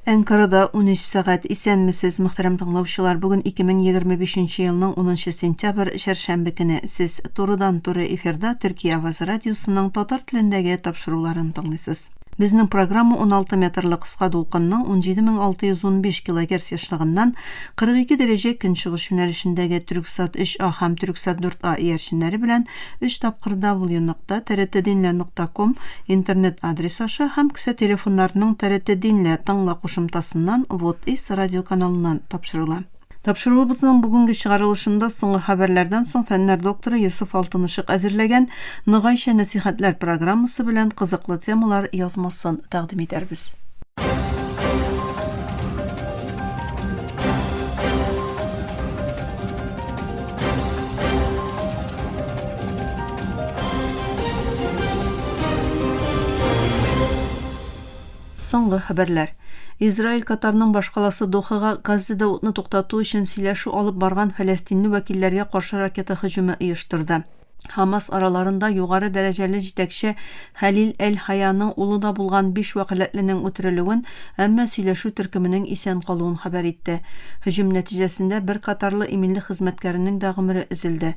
Әнкарада унөч сәгать. Исәнмесез, мөхтәрәм тыңлаучылар! Бүген 2025 елның унынчы сентябрь, чәршәмбе көне. Сез турыдан-туры эфирда Төркия авазы радиосының татар телендәге тапшыруларын тыңлыйсыз. Безнең программа уналты метрлы кыска дулкынның 17615 килогерц ешлыгыннан 42 дәрәҗә көнчыгыш юнәлешендәге Төрксат 3А һәм Төрксат 4А иярченнәре белән Өч тапкыр www.nokta trdinlya нокта ком интернет адрес аша һәм кесә телефоннарының TRT Dinlya тыңла кушымтасыннан Вот и с радиоканалыннан тапшырыла. Тапшыруыбызның бүгенге чыгарылышында соңгы хәбәрләрдән соң фәннәр докторы Йосыф Алтынышык әзерләгән Ногайча нәсыйхәтләр программасы белән кызыклы темалар язмасын тәкъдим итәрбез. Соңгы хәбәрләр. Израиль Катарның башкаласы Дохага Газзада утны туктату өчен сөйләшү алып барган фәләстинле вәкилләргә каршы ракета һөҗүме оештырды. Хамас араларында югары дәрәҗәле җитәкче Хәлил әл-Хаяның улы да булган биш вәкаләтленең үтерелүен, әмма сөйләшү төркеменең исән калуын хәбәр итте. Һөҗүм нәтиҗәсендә бер катарлы иминлек хезмәткәренең дә гомере өзелде.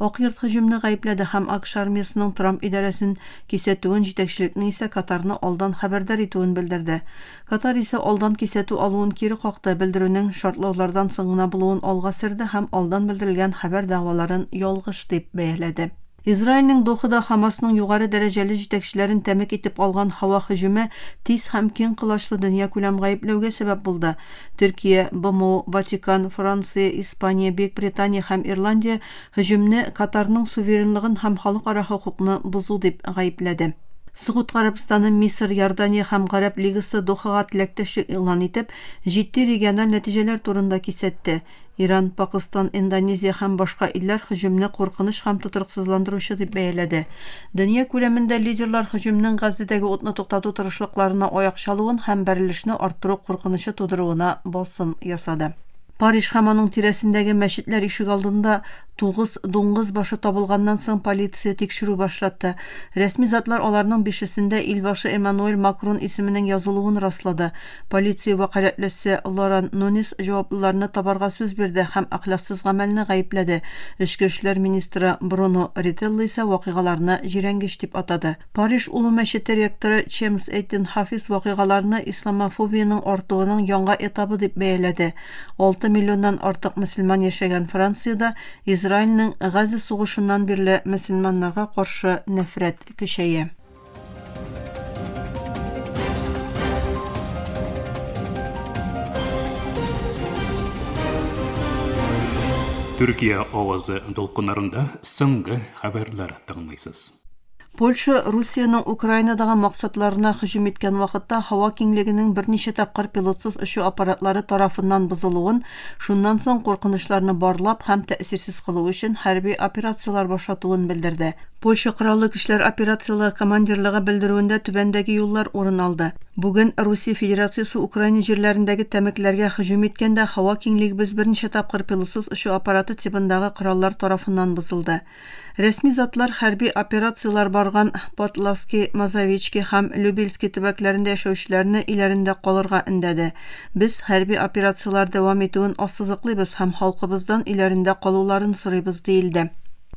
Ак йорт һөҗүмне гаепләде һәм АКШ армиясенең Трамп идарәсен кисәтүен, җитәкчелекнең исә Катарны алдан хәбәрдар итүен белдерде. Катар исә алдан кисәтү алуын кире какты, белдерүнең шартлаулардан соң гына булуын алга серде һәм алдан белдерелгән хәбәр дәгъваларын ялгыш дип бәяләде. Израильнең Дохада Хамасның югары дәрәҗәле җитәкчеләрен тәмәк итеп алган һава һөҗүме тиз һәм киң колачлы дөньякүләм гаепләүгә сәбәп булды. Төркия, БМО, Ватикан, Франция, Испания, Бөекбритания һәм Ирландия Һөҗүмне Катарның суверенлыгын һәм халыкара хокукны бозу дип гаепләде. Согуд Гарәбстаны, Мисыр, Иордания һәм Гарәп Лигасы Дохага теләктәшлек игълан итеп, җитди региональ нәтиҗәләр турында кисәтте. Иран, Пакыстан, Индонезия һәм башка илләр һөҗүмне куркыныч һәм тотрыксызландыручы дип бәяләде. Дөнья күләмендә лидерлар һөҗүмнең Газзедәге утны туктату тырышлыкларына аяк чалуын һәм бәрелешне арттыру куркынычы тудыруына басым ясады. Париж һәм аның тирәсендәге мәчетләр ишегалдында тугыз дуңгыз башы табылганнан соң полиция тикшерү башлатты. Рәсми затлар аларның бишесендә илбашы Эммануэль Макрон исеменең язылуын раслады. Полиция вәкаләтлесе Лоран Нунис җаваплыларны табарга сүз бирде һәм әхлаксыз гамәлне гаепләде, эчке эшләр министры Бруно Рителло исә вакыйгаларны җирәнгеч дип атады. Париж Олы мәчете ректоры Чемс Эйтин Хафиз вакыйгаларны исламофобиянең артуының яңа этабы дип бәяләде. Алты миллионнан артык мөселман яшәгән Франциядә Израильнең Газа сугышыннан бирле мөселманнарга каршы нәфрәт көчәя. Төркия авазы дулкыннарында соңгы хәбәрләр тыңлыйсыз. Польша Русиянең Украинадагы максатларына һөҗүм иткән вакытта һава киңлегенең берничә тапкыр пилотсыз очу аппаратлары тарафыннан бозылуын, шуннан соң куркынычларны барлап һәм тәэсирсез кылу өчен хәрби операцияләр башлатуын белдерде. Польша Кораллы көчләр операцияләр командирлыгы белдерүендә түбәндәге юллар урын алды. Бүген Русия Федерациясе Украина җирләрендәге тәмәкеләргә һөҗүм иткәндә һава киңлегебез берничә тапкыр пилотсыз очу аппараты тибындагы кораллар тарафыннан бозылды. Рәсми затлар хәрби операцияләр барган Потлавски, Мазовички һәм Любельски төбәкләрендә яшәүчеләрне өйләрендә калырга өндәде. Без хәрби операцияләр дәвам итүен ассызыклыйбыз һәм халкыбыздан өйләрендә калуларын сорыйбыз, диелде.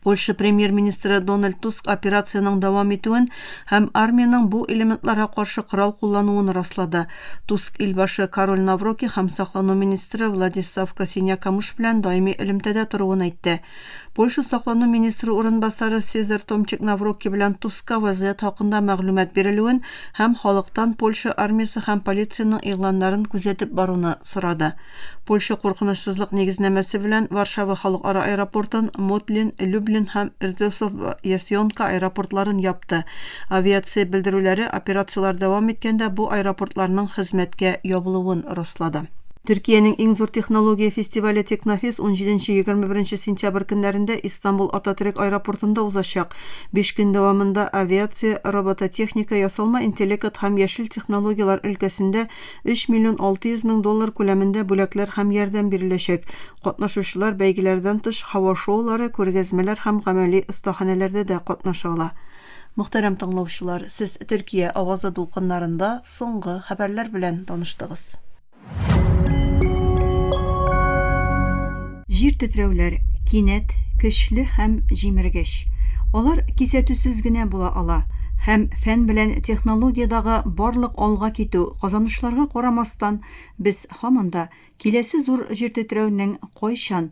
Польша премьер-министры Дональд Туск операциянең дәвам итүен һәм армиянең бу элементларга каршы корал куллануын раслады. Туск илбашы Кароль Навроки һәм саклану министры Владислав Косиня-Камыш белән даими элемтәдә торуын әйтте. Польша саклану министры урынбасары Сезар Томчик Наврокки белән Туска вазгыять хакында мәгълүмат бирелүен һәм халыктан Польша армиясе һәм полициянең игъланнарын күзәтеп баруны сорады. Польша куркынычсызлык нигезнамәсе белән Варшава халыкара аэропортын, Мотлин, Люблин һәм Рзесов-Ясьонка аэропортларын япты. Авиация белдерүләре операцияләр дәвам иткәндә бу аэропортларның хезмәткә ябылуын раслады. Төркиянең иң зур технология фестивале Технофест унҗиденче-егерме беренче сентябрь көннәрендә Истанбул Ататөрек аэропортында узачак. Биш көн дәвамында авиация, робототехника, ясалма интеллекат һәм яшел технологияләр өлкәсендә өч миллион алты йөз мең доллар күләмендә бүләкләр һәм ярдәм биреләчәк. Катнашучылар бәйгеләрдән тыш һава шоулары, күргәзмәләр һәм гамәли остаханәләрдә дә катнаша ала. Мөхтәрәм тыңлаучылар, сез Төркия авазы дулкыннарында соңгы хәбәрләр белән таныштыгыз. Җир тетрәүләр, кинәт, көчле һәм җимергеч. Алар кисәтүсез генә була ала, һәм фән белән технологиядагы барлык алга китү, казанышларга карамастан, без һаман да киләсе зур җир тетрәүнең кайчан,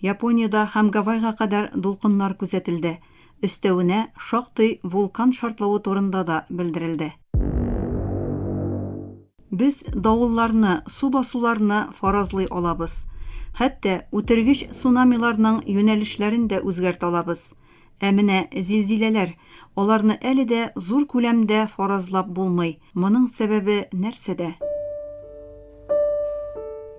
Япониядә һәм Гавайга кадәр дулкыннар күзәтелде. Өстәвенә, шактый вулкан шартлавы турында да белдерелде. Без давылларны, су басуларны фаразлый алабыз. Хәтта үтергеч цунамиларның юнәлешләрен дә үзгәртә алабыз. Ә менә зилзиләләр, аларны әле дә зур күләмдә фаразлап булмый, Моның сәбәбе нәрсәдә?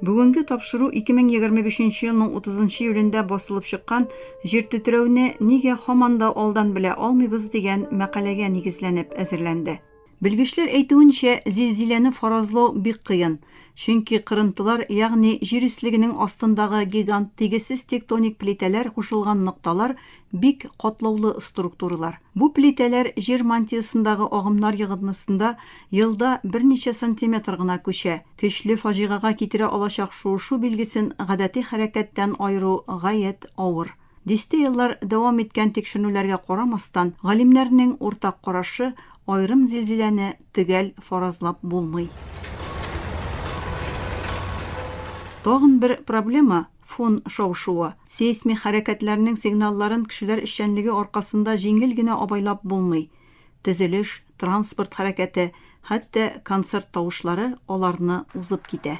Бүгенге тапшыру 2025 елның 30 июлендә басылып чыккан Җир тетрәүне нигә һаман да алдан белә алмыйбыз дигән мәкаләгә нигезләнеп әзерләнде. Белгечләр әйтүенчә, зилзиләне фаразлау бик кыен, чөнки кырынтылар, ягъни җир өслегенең астындагы гигант тигезсез тектоник плитәләр кушылган нокталар Бик катлаулы структуралар. Бу плитәләр җир мантиясендагы агымнар йогынтысында елда берничә сантиметр гына күчә. Көчле фаҗигага китерә алачак шуышу билгесен гадәти хәрәкәттән аеру гаять авыр. Дистә еллар дәвам иткән тикшеренүләргә карамастан, галимнәрнең уртак карашы, аерым зилзиләне төгәл фаразлап булмый. Тагын бер проблема, Фон шау-шуы, сейсмик хәрәкәтләрнең сигналларын кешеләр эшчәнлеге аркасында җиңел генә абайлап булмый. Төзелеш, транспорт хәрәкәте, хәтта концерт тавышлары аларны узып китә.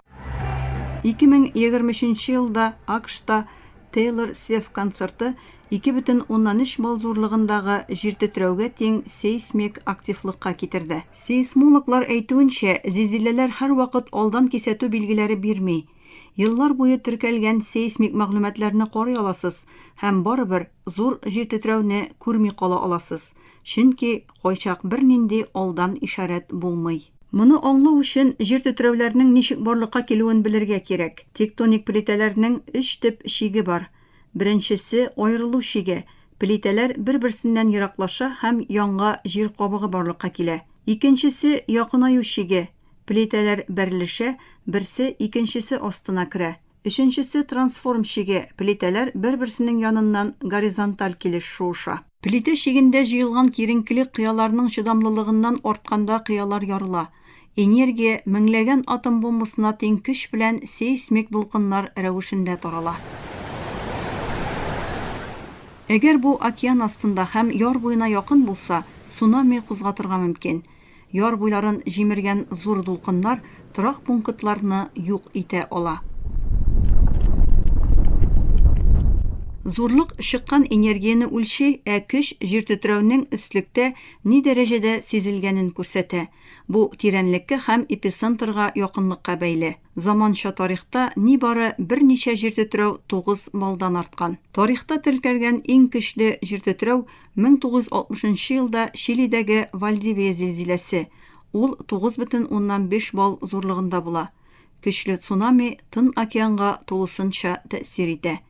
2023 нче елда АКШта Тейлор Свеф концерты 2,3 балл зурлыгындагы җиртетрәүгә тиң сейсмик активлыкка китерде. Сейсмологлар әйтүенчә, зилзиләләр һәрвакыт алдан кисәтү билгеләре бирми. Еллар буе теркәлгән сейсмик мәгълүматларны карый аласыз һәм барыбер зур җиртетрәүне күрми кала аласыз, чөнки кайчак бернинди алдан ишарәт булмый. Моны аңлау өчен җиртетрәүләрнең ничек барлыкка килүен белергә кирәк. Тектоник плитәләрнең өч төп чиге бар. Беренчесе, аерылу чиге, плитәләр бер-берсеннән ераклаша һәм янга җир кабыгы барлыкка килә. Икенчесе, якынаю чиге, Плитәләр бәрелешә, берсе икенчесе астына керә. Өченчесе трансформ чиге, плитәләр бер-берсенең яныннан горизонталь килеш шуыша. Плитә чигендә җыелган киеренкелек кыяларның чыдамлылыгыннан артканда кыялар ярыла. Энергия меңләгән атом бомбасына тиң көч белән сейсмик дулкыннар рәвешендә тарала. Әгәр бу океан астында һәм яр буена якын булса, цунами кузгатырга мөмкин. Яр буйларын җимергән зур дулкыннар торак пунктларны юк итә ала. Зурлык чыккан энергияне үлчи, ә көч җиртетрәүнең өслектә ни дәрәҗәдә сизелгәнен күрсәтә. Бу тирәнлеккә һәм эпицентрга якынлыкка бәйле. Заманча тарихта нибары берничә җиртетрәү тугыз баллдан арткан. Тарихта теркәлгән иң көчле җиртетрәү 1960 нчы елда Чилидәге Вальдивия зилзиләсе, ул 9,5 балл зурлыгында була. Көчле цунами Тын океанга тулысынча тәэсир итә.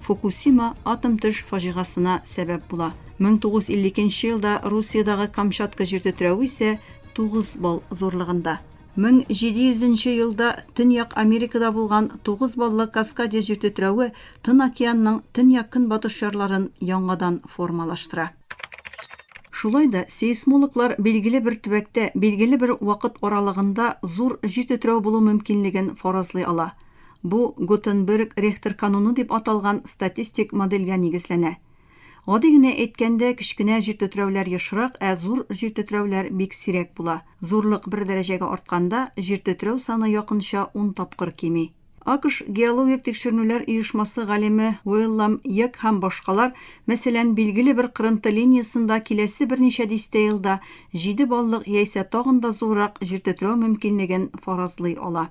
Фукусима атом төш фаҗигасына сәбәп була. 1952 елда Русиядагы Камчатка җир тетрәве исә 9 балл зурлыгында. 1700 елда Төньяк Америкада булган 9 баллы Каскадия җир тетрәве Тын океанның төньяк-көнбатыш ярларын яңадан формалаштыра. Шулай да сейсмологлар билгеле бер төбәктә билгеле бер вакыт аралыгында зур җир тетрәве булу мөмкинлеген фаразлый ала. Бу Гутенберг Рехтер кануны дип аталган статистик модельгә нигезләнә. Гади генә әйткәндә, кечкенә җиртетрәүләр ешрак, ә зур җиртетрәүләр бик сирәк була. Зурлык бер дәрәҗәгә артканда, җиртетрәү саны якынча ун тапкыр кими. АКШ геологик тикшеренүләр оешмасы галиме Уиллам Йек һәм башкалар, мәсәлән, билгеле бер кырынты линиясендә киләсе берничә дистә елда җиде баллык яисә тагын да зуррак җиртетрәү мөмкинлеген фаразлый ала.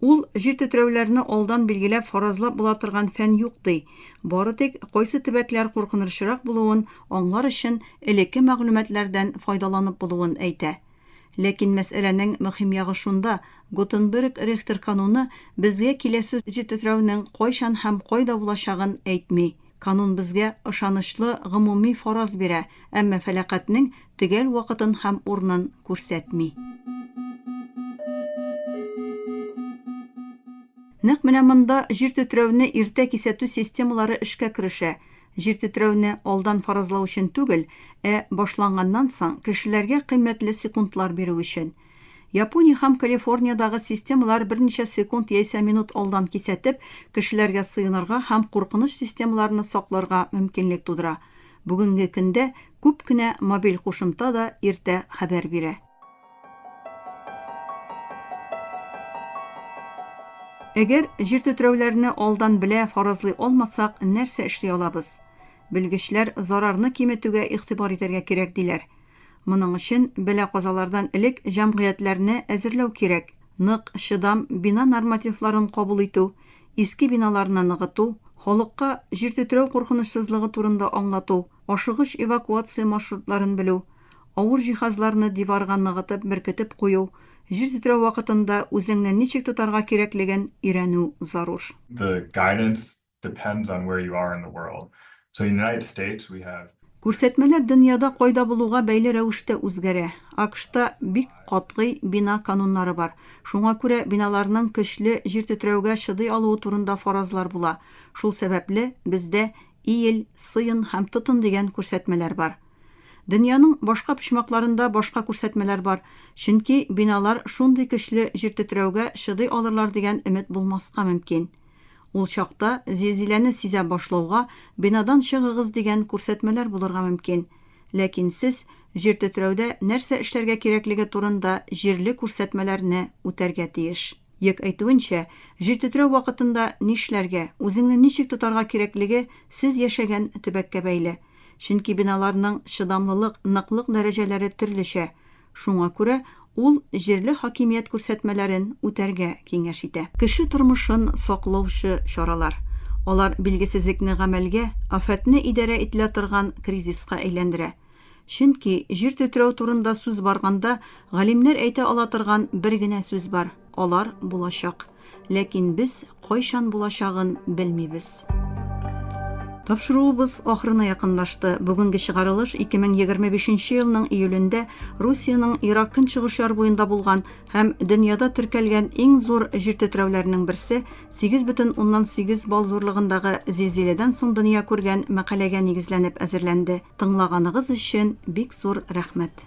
Ул, Җир тетрәүләрне алдан билгеләп, фаразлап була торган фән юк, ди. Бары тик кайсы төбәкләр куркынырчырак булуын аңлар өчен элекке мәгълүматлардан файдаланып булуын әйтә. Ләкин мәсьәләнең мөһим ягы шунда, Готенберг Рихтер кануны безгә киләсе җир тетрәүнең кайчан һәм кайда булачагын әйтми. Канун безгә ышанычлы гомуми фараз бирә, әмма фәлакатьнең төгәл вакытын һәм урынын күрсәтми. Нәкъ менә монда җир тетрәүне иртә кисәтү системалары эшкә керешә. Җир тетрәүне алдан фаразлау өчен түгел, ә башланганнан соң, кешеләргә кыйммәтле секундлар бирү өчен. Япония һәм Калифорниядагы системалар берничә секунд яисә минут алдан кисәтеп, кешеләргә сыенырга һәм куркыныч системаларны сакларга мөмкинлек тудыра. Бүгенге көндә күп кенә мобиль кушымта да иртә хәбәр бирә. Әгәр җиртетрәүләрне алдан белә фаразлый алмасак, нәрсә эшли алабыз? Белгечләр зарарны киметүгә игътибар итәргә кирәк диләр. Моның өчен бәла-казалардан элек җәмгыятьләрне әзерләү кирәк. Нык, чыдам бина нормативларын кабул итү, иске биналарны ныгыту, халыкка җир тетрәү куркынычсызлыгы турында аңлату, ашыгыч эвакуация маршрутларын белү, авыр җиһазларны диварга ныгытып беркетеп кую, җир тетрәү вакытында үзеңне ничек тотарга кирәклеген өйрәнү зарур. The guidance Күрсәтмәләр дөньяда кайда булуга бәйле рәвештә үзгәрә. АКШта бик катгый бина кануннары бар, шуңа күрә биналарның көчле җир тетрәүгә чыдый алуы турында фаразлар була. Шул сәбәпле, бездә Иел, сыен һәм тотын дигән күрсәтмәләр бар. Дөньяның башка почмакларында башка күрсәтмәләр бар, чөнки биналар шундый көчле җир тетрәүгә чыдый алырлар дигән өмет булмаска мөмкин. Ул чакта, зилзиләне сизә башлауга, бинадан чыгыгыз дигән күрсәтмәләр булырга мөмкин. Ләкин сез җиртетрәүдә нәрсә эшләргә кирәклеге турында җирле күрсәтмәләрне үтәргә тиеш. Йек әйтүенчә, җиртетрәү вакытында нишләргә, үзеңне ничек тотарга кирәклеге сез яшәгән төбәккә бәйле. Чөнки биналарның чыдамлылык, ныклык дәрәҗәләре төрлечә. Шуңа күрә ул җирле хакимият күрсәтмәләрен үтәргә киңәш итә. Кеше тормышын саклаучы чаралар. Алар билгесезлекне гамәлгә, афәтне идарә ителә торган кризиска әйләндерә. Чөнки, җир тетрәү турында сүз барганда, галимнәр әйтә ала торган бер генә сүз бар, алар булачак. Ләкин без кайчан булачагын белмибез. Тапшыруыбыз ахырына якынлашты. Бүгенге чыгарылыш 2025 нче елның июлендә Русиянең Ирак көнчыгыш яр буенда булган һәм дөньяда теркәлгән иң зур җир тетрәүләренең берсе, 8,8 балл зурлыгындагы зилзиләдән соң дөнья күргән мәкаләгә нигезләнеп әзерләнде. Тыңлаганыгыз өчен бик зур рәхмәт!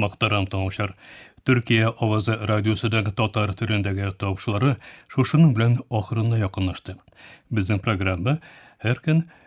Мактарам тыңлаучылар. Төркия авазы радиосыдагы татар төрендәге тавышлары шушының белән ахырына якынлашты. Безнең программа һәр көн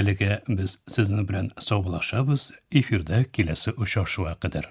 Әлегә без сезнең белән саубулашабыз, эфирда киләсе очрашуга кадәр.